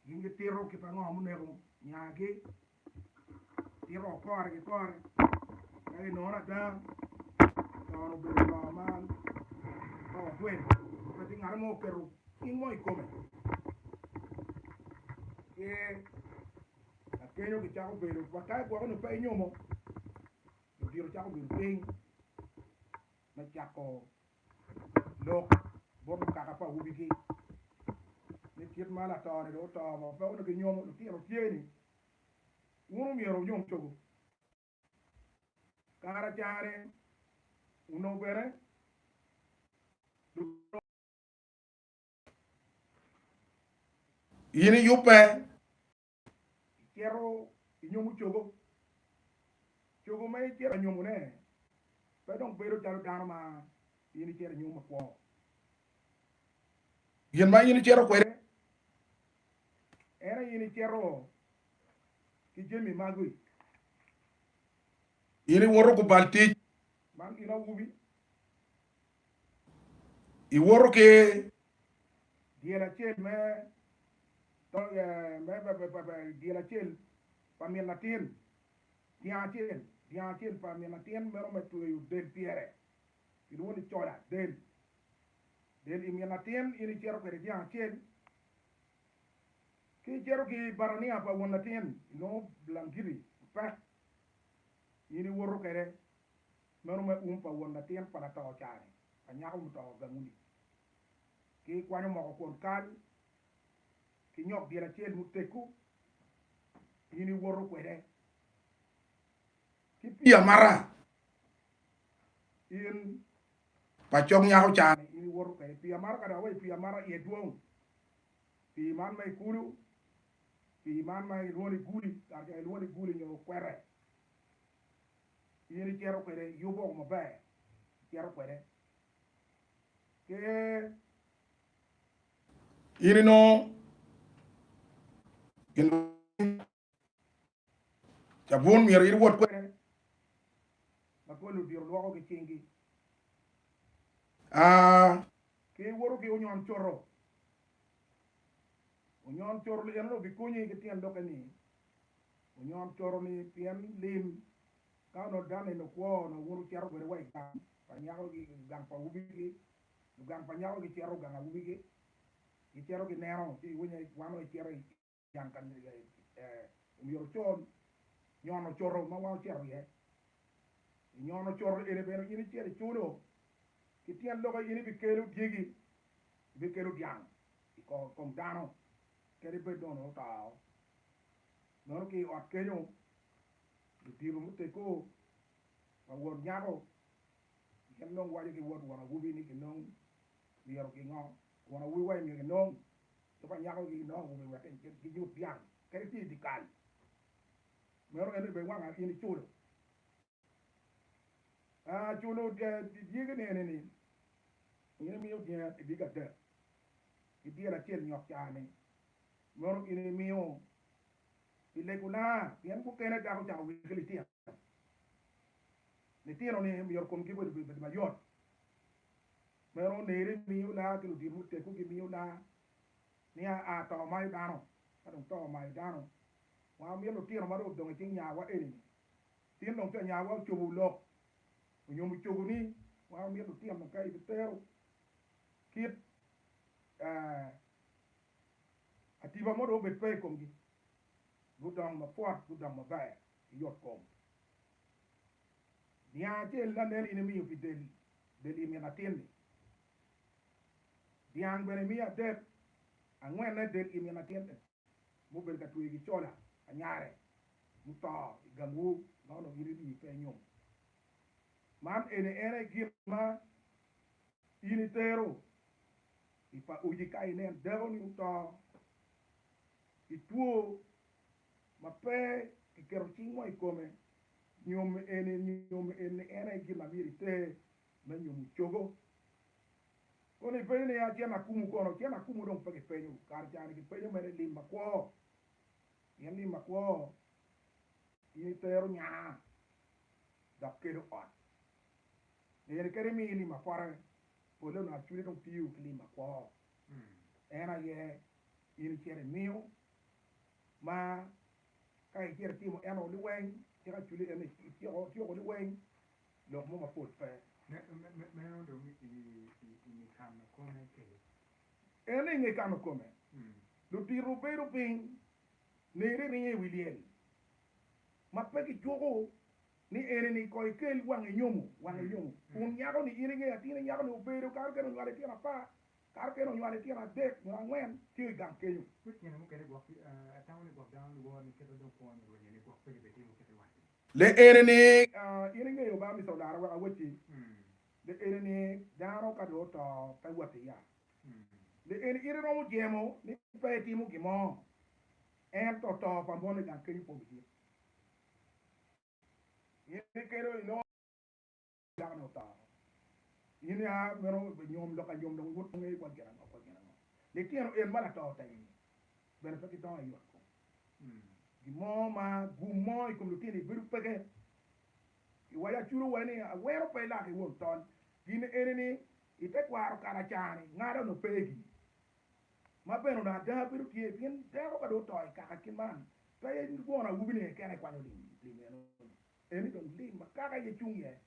gin gitito kit ango ma onego nyagi, tito wa kore ki kore ma i nono ada lor obedo lor ma ka watweyo pe tye ngat mo oketo cing mo i kome ki lakenyo gicako bedo wa ka gwoko ni pe inyomo ludito cako bedo piny me cako lok bot mukato pa awobigi ni kit ma lato-ni dong oto mo, pe onongo kinyomo litino tye ni wun omyero wunyom cogo kara cane onongo bene lutino in iyubbe. Icito inyomo cogo. Cogo ma icito anyomone pe dong bedo calo dano ma in icito inyom ma kwo. Gin ma in icito kwede en aye in icito ki jami magi. In iwoto gubal tic. Man gin awobi. I woto ki dyel acel me dyel acel pa min latin, dyang acel, dyang acel pa min latin meno me tweyo del pyere, kilwongo ni coda, del, del i min latin in icito kwede dyang acel, ki icito ki batania pa won latin inongo bulangiti mapek in iwoto kwede. Meno me um pa won latin pa lato ocare pa nyako muto gamuni ki kwanyo moko kwon kal ki nyok dyel acel muteggu in iwoto kwede ki pii amata in pa cog nyako ocare in iwoto kwede pii amata ka dok awaci pii amata iye dwong pii man ma ikulu pii man ma ilwongo ni guli kare ca ilwongo ni guli nyo kwete. In icito kwede, iyubo maber, icito kwede ki. In inongo gin ma cabun myero in iwot kwede, ma pol odiro lwoko ki cingi, aa. Ki iwoto ki onyon coto, onyon coto eno-ni obikonyi ki tyen lokke-ni, Onyon coto ni pien lim ka onongo dano eno kwo onongo wun wucito kwede wa i gang pa nyako gi gang pa awobi gi nyo gang pa nyako gi cito gang awobi gi gi cito gi neno ci iwinyo ni wan onongo ecito i gang ka omyero ocol nyon ocoto ma wan ocito iye i nyon ocoto eni bene in icito iculo ki tyen lok aye in ibikelo dyegi ibikelo dyang ikom dano kadi bed dong onongo otao. Nono ki i ot kenyo, ludito muteggo pa wod nyako gin dong giwaco ki wod won awobi ni kinong myero gingo won awobi wa myero enong jo pa nyako ki nongo awobi wek ginyut dyang kadi tye i dye kal. Meno en aye bene wanga in iculo. Aa, culo oter pi dyegi ni ene ni, In imiyo dyena i dyegi adek, ki dyel acel nyok caa-ni, mono in imiyo i legona, pien mukene dako cako wigi ki litino, litino-ni myero komgi obed mayot, meno oneri imiyo laa ki ludito mutegwu gimiyo laa, ni aa to omayo dano, ka dong to omayo dano, wa omyero lutino ma dong odong i cing nyawa eni-ni Tin dong ca nyawa ocobowu lok, onyomo cogo ni wa omito tino ka ibitero kit atiba mo dong obed pe i komgi, gudong mapwot, gudong maber, giyot kom. Niang acel na nen in imiyo pi del, del i min atin-ni. Dyang bene imiyo adek, angwenne del i min atin-ni. mubedo ka tweyo gicola pa nyare muto i gamwu ma onongo in rii pe inyom. Man eni en aye gin ma in itero i pa uci ka inen dakoni oto i two ma pe kiketo cing mo i kome. Nyom eni en aye gin ma myero iter me nyumo cogo. Kono ipenyo ni, 'A cen akumo kono? Cen akumo dong pe kipenyo, kare ca ni kipenyo mere lim makwo, pien lim makwo in itero nya dok kelo ot. Nino kene imiyo lim apwata, polle onongo acwide dong tiyo ki lim makwo. En aye in icito imiyo ma ka icito itimo eno liweny cik acwide en eciko tyeko liweny. lok mo mapol pe. Meno dong i nge kano kome kede? Ene i nge kano kome, ludito bedo piny nere ringo i wi lyel ma pe kicuko ni eni ni ko ikel wange nyomo wange nyomo kun nyako ni in inge atin nyako ni obedo kato kene onywalo itino apar kato kene onywalo itino adek nyo angwen tye i gang kenyo. Wek tyene mukene gwok atamo ni gwok dano lworo ni kite dong kwo nyo rwenye ni gwok pe libetimo kite iwaco. Le ene ni, In ingeyo ba Mister Odara wek awacci, le ene ni dano ka dong oto pe wot i yat, le ene ite romo jemo ni pe etimo gin mo, ento to pa mone gang kenyo po me dit. In ikelo inongo. Dano-ni oto. In ya meno be nyom lok anyom dong iwot tunge ikwa gin ango ikwa gin ango. Litino en ma lato otegi ni bene pe gidongo i ot kom. Gin mo ma gum mo i kom lutino-ni bedo peke. I waco aculo wa ni awero pe ilak i won tol. Gin eni ni i te kwaro kala cani ngala onongo pe gi. Ma bene onongo ada bedo tye pien dako ka dong oto i kaka kit man pe gwon awubi ni kene ikwanyo lim eno ni. Eni dong lim ma kaka aye cung iye,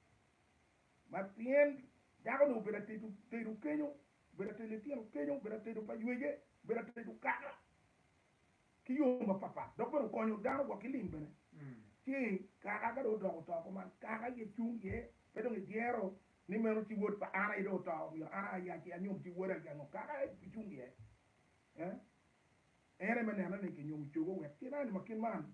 ma pien dako-ni obedo atedo tedo kenyo, obedo atedo litino kenyo, obedo atedo pa ywece, obedo atedo kaka ki yo mapat pat, dok bene okonyo dano gwok ki lim bene. Ci kaka ka dong odoko oto kuman, kaka aye cung iye, pe dong idyero ni meno ci wod pa an aye dong oto, myero an aya ci anyom ci woda aye ango, kaka aye cung iye, en aye me neno ni kinyomo cogo wek kit-ni ma kit man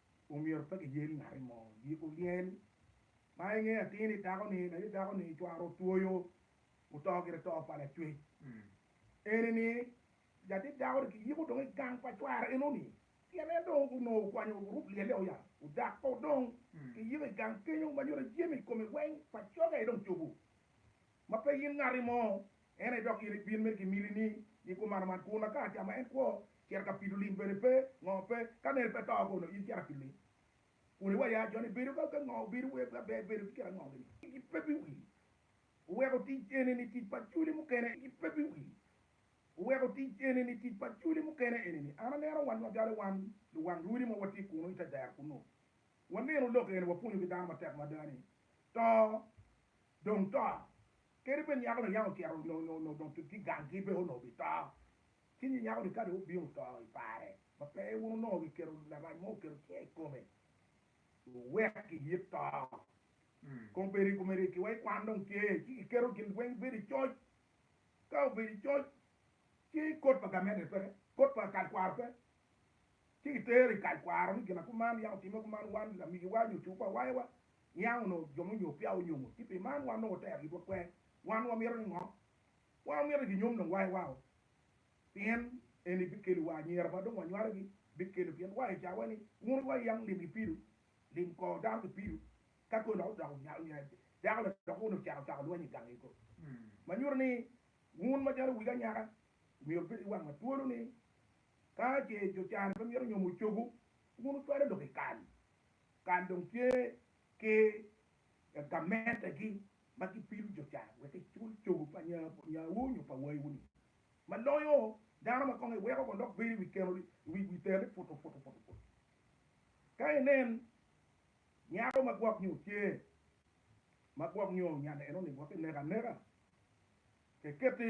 Omyero pe giyel ngati mo yiko lyel ma inge atir-ri dako-ni, laye dako-ni cware otwoyo oto gire to pa lacwec. Eni-ni latit dako-ni kiyiko dong i gang pa cware eno-ni pien en dong onongo okwanyo orub lyel-le o ya ojak o dong kiyiko i gang kenyo ma nyuto jami i kome weng pa coge dong cobo. ma pe in ngati mo, en aye dok in ibin mere ki miti ni gikumar man, kun aka ca ma en kwo cito ka pido lim bene pe, ngo pe, ka mere pe to kono in cito apido lim, kun iwaco ya joni bedo ka ka ngo obedo wer ka ber bedo ki kit ango gini, ki pe bi wi weko tic eni ni tic pa culi mukene, ki pe bi wi weko tic eni ni tic pa culi mukene eni ni an aneno wan magale wan luwang lwodi ma watye kunu ite dero kunu, waneno lok eni wapwonyo ki dano matek mada ni to dong to. Kadi bed nyako layange ocito onongo dong tye ganggi pe onongo bito. Ci nyo nyako-ni ka dong obino to i pare ma pe wun onongo giketo larac mo oketo cinge i kome, wuwek kiyit to. Kong bed i kome ryekki wa i kwan dong tye, ci kiketo gin weng bedo i coc. Ka obedo i coc, ci kot pa gamente pe, kot pa kal kwaro pe, ci kitero i kal kwaro ni ginakum man yam otimme kuman wan lamigiwa nyo cukwa awayawa niang onongo jo munyo peya onyongo ci pi man wan nongo watero yub wakwer wan wamito ni ngo wan wamito ni ginyom dong wayawa o pien eni bikelo wa anyira ma dong wanywalo gi bikelo pien wa icawa ni wun wi wa yam lim gi pido lim kor dano ki pido ka kor lok dok onyalo nyo dako ladok kuni ocako ocako lweny igang gi ko manyuto ni wun macalo wigi anyaka myero bed iwang matwolo ni Ka ce jo can pe mito nyomo cogo, wun wucwalo lok i kal. Kal dong tye ki gamentegi ma gipilo jo can wek gicul cogo pa nyawu nyo pa wayiwu-ni. Ma loyo dano ma kong iweko ko lok bedo i wi keno i wi wi teni putu putu putu putu. Ka inen nyako ma gwok nyo cer ma gwok nyo nyan eno-ni wek ineke aneka, ce keti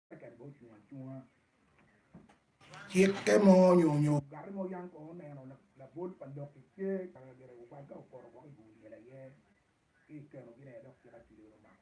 Cikke mo nyo nyo ogati mo yam kong oneno labol pa lok i ce ka lagire ogwal ka opoto woko i bur lyel aye ci ikeno gi ne dok cik acwili wek omako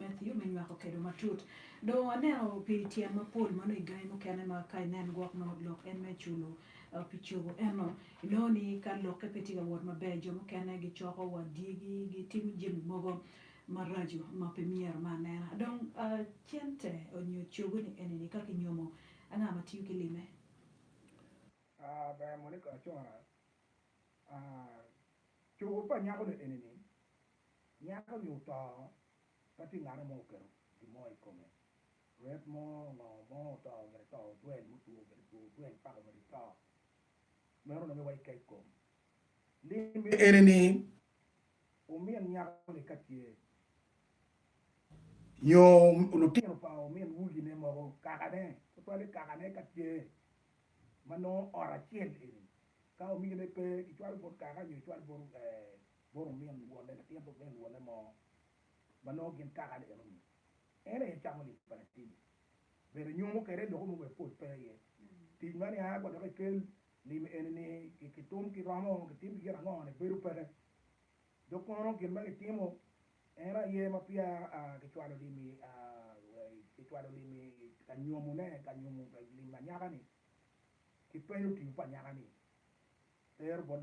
Matthew me nywako kedo matut. Dong waneno pi tyen mapol ma nongo i gangi mukene ma ka inen gwok nongo lok en me culo pi cogo eno inongo ni ka lokke pe tye ka wot maber jo mukene gicoko wa dyegi gitimo jami mogo maraco ma pe myero me anena. Dong cente nyo cogo ni enini ka kinyomo anga ma tiyo ki lime? Ber monica Acora, Cogo pa nyako ni enini. Nyak onyo to ka tye ngate mo oketo gin mo i kome, rwet mo, ngo mo oto mere to odwel mutwo mere two odwel pako mere to meno nonge wa ikec kom lim eni ni omin nyako ni ka tye nyo lutino pa omin wulgi ne mogo kaka ne tutwale kaka ne ka tye ma nongo ot acel eni ka omine pe kicwalo bot kaka nyo kicwalo bot Bot omin luwolle, latin omin luwolle mo ma nongo gin kaka ni eno ni en aye camo lim pa latinni bene nyomo kwede lok mo bene pol pe iye. Tic ma niang wa dok ikel lim eni ni kitum ki romo kitim ki gin ango ni bedo peke dok kono gin ma kitimo eno aye ma peya kicwalo lim i kicwalo lim i ka nyomo ne ka nyomo lim anyaka ni ki penyo otingo pa anyaka ni tero bot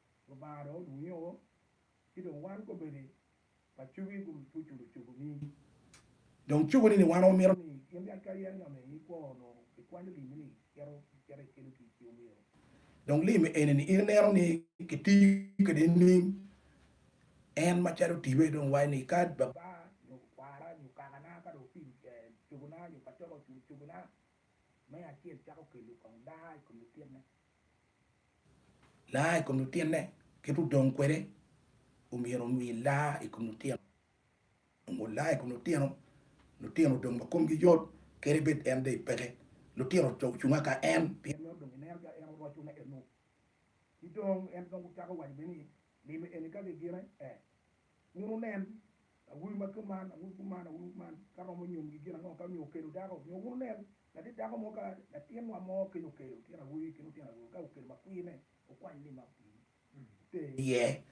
Lubanga dong odwogo nyoo, ci dong wan kobedi pacogi gutuco lucogo ni, Dong cogo ni ni wan omito ni in yat ka yen nga me ni kwo onongo ikwanyo limmi ni icito icito ikelo tic pi omiro, dong limmi eni ni in ineno ni kitiyo kede ining en macalo tiwe dong iwaco ni ka baba nyo kwara nyo kakana ka dong opido lucogo na nyo pacoga oculo lucogo na me acel cako kelo kong daa ikom lititne. Laa i kom lutinne kit odong kwede omyero omii laa i kom lutino nongo olaa i kom lutino, lutino odong ma komgi yot kadi bed en dong peke lutino co ocunga ka en pien nongo dong ineno calo en oroco ne eno ki dong en dong ocako waco bene ni Nino eni ka gigine e, wun wunen, awobi ma kuman, awobi kuman, awobi kuman, ka romo nyomgi gin ango, ka nyo okelo dako, nyo wun wunen, latit dako mo, ka latinwa mo kec okelo otyeno awobi ki lutyeno awobe, ka okelo makwirne, wukwany ni ma otii te iye,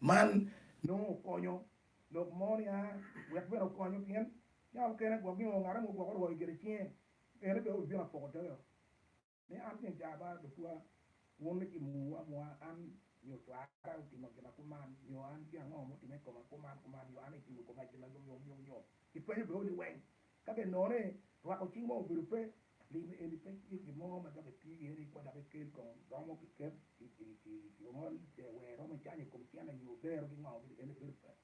man nongo okonyo lok mo nia? Wek bene okonyo, pien yam mukene gwok gingo ngat mo gwok orwoi gire cinge, ene bene obibino apoko doge-o. Ni an kong caba lukwa, wun lucimo nguu amua an, nyo cwara otimo gina kuman, nyo an gin ango mutime i koma kuman kuman, nyo an aye timo i koma gin ma yom yom nyom nyom. Kipenyo bene odi weng. Ka bene nono ni rwako cing mo obedo pe, limo eni pe tye gin mo ma dok eti iye ni kwo dok ikel kong romo kiket ki ongol, wer romo icanyo i kom cene nyo bero ki ngo, eni bedo pe.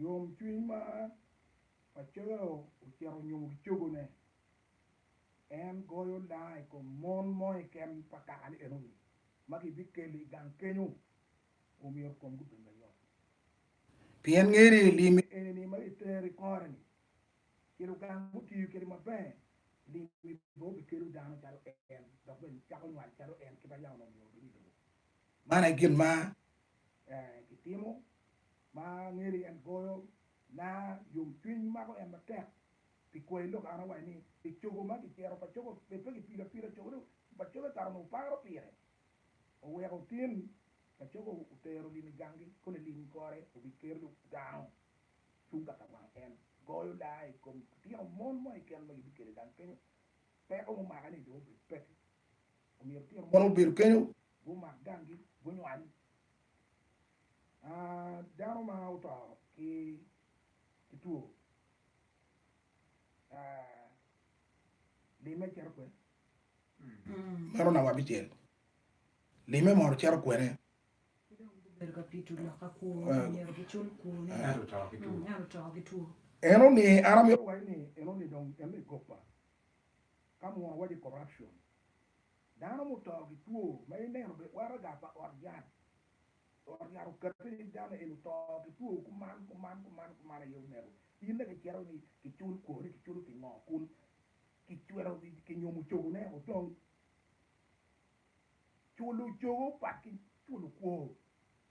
Yomcwiny ma pacoyo ocito onyumo ki cogone, en goyo daa i kom mon mo keken pa kaka ni enoni ma gibikelo i gang kenyo, omyero komgi obed mayot. Pien nge ni lim enini ma itero i kore-ni i luganga mutiyo kwede maber, limmi bene obikelo dano calo en, dok bene icako nywal calo en, kit ma Yam onongo omyero obed i lobo. Man aye gin ma kitimo. Ma ngeri en goyo na yom cwiny mako en matek pi kwayi lok an awaci ni pi cogo ma kicero pa cogo bed pe ki pilo apila cogo ni pa cogo ekato onongo paro pire oweko otin pa cogo otero lim i gangi koni lim kore obi ker lub dano cung kaka wang en goyo laa i kom litino mon mo keken ma gibikelo i gang kenyo peko mumaka ni dong obed peki omyero litino mon obed kenyo gumak gangi gunywany Dano ma oto ki two limme cito kwene? Meno namba abicel. Limme mono cito kwene? Enoni an amito wacci ni enoni dong en me goba ka munu waci corruption. Dano muto ki two ma ineno be waraga pa ot yat. Ot yat okati ni dano eni oto ki two kuman kuman kuman kuman aye omego. In dong icito ni kicul kwo ni kiculo pingo kun kicwero kinyumo ocogo ne odong. Culo ocogo opat ki culo kwo.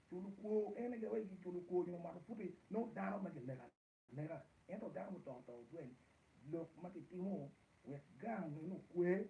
Culo kwo en aye wai kiculo kwo nyo mato puti nongo dano ma kineko aneka. Ento dano muto to tweng. Lok ma kitimo wek gang meno okwe.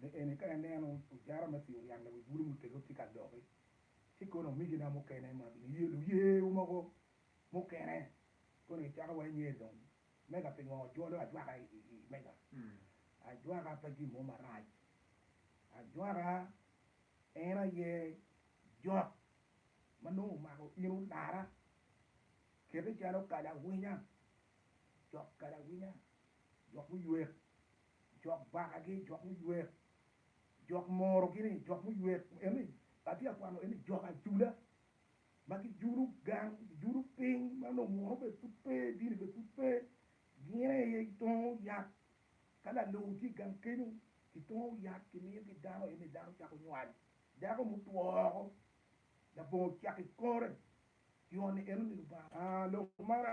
Me eni, ka ineno ojara me pii oniang lawic bulu muteggo tye ka doki, ci kono omigina mukene ma giniye luyewu mogo mukene kono gicako wa inge dong mega pingo wajolo ajwaka i mega. Ajwaka pe gin mo marac. Ajwaka en aye jok ma nongo omako in olara. Kete calo kalawinya, jok kalawinya, jok muywek. jok bakagi, jok muywek, jok morogi-ni, jok muywek eni, atye ka kwano eni jok ajula ma gijulo gang, gijulo piny ma nongo munu bene pud pe, dini bene pud pe, gin aye gitongo yat ka lalou tye i gang kenyo, gitongo yat gimiyogi dano eni dano cako nywal, dako mutwo woko labongo ocako i kore, i ot-ni eno ni Lubanga. Lok man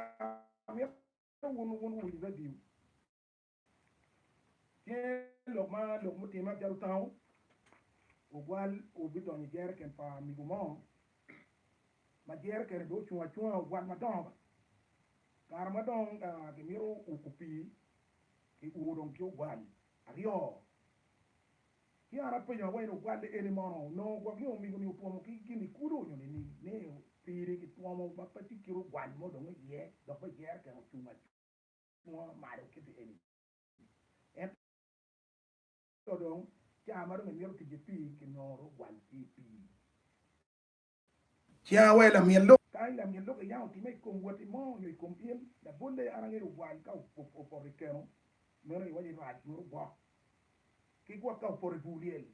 amito wun wun wuwiny radio Tye lok ma lok mutimme acel otango, Ogwal obidonyo i jereken pa migo mo, ma jerekene dong ocung acunga, ogwal madongo. Kare ma dong kimito uko pii, kiumo dong ki ogwal aryo. Ci an apenyo awaci ni, 'Ogwal eni mono onongo gwok nyo migo-ni otwomo ki gin i kulu nyo nining? Ni pii-ni kitwomo ma pe tye kit ogwal mo dong iye, dok bene jereken ocung acunga. mo malo kiti eni. Ento dong cawa ma dong emito tic i pii kinongo dong ogwal ki i pii. Cawa wa i lamyel lok. Ka i lamyel lok iyamo time i kom woti mo nyo i kom in, labolle an angeyo ogwal ka opoto i keno, meno iwaco ni rac meno ogwok. Ki gwok ka opoto i bur lyel,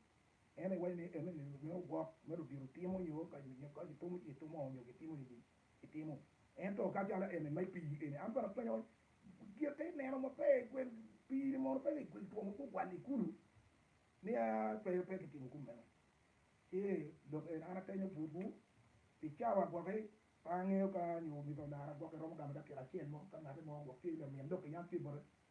en aye iwaco ni meno ogwok, meno diro timo nyo ka kitumo ci itumo nyo kitimo nini. itimo ento ka calo eni ma ipii eni an bene apenyo giti ineno ma pe gwel pii ni mono pe ki gwel two mogo ogwali kulu niya pe pe ki timo kum meno ci lok eni an atenyo butwu i cawa gwok i pe angeyo ka nyo omyero onara gwok i romo gamo dakika acel mo ka ngati mo gwok tye lamin lok i yam tye bote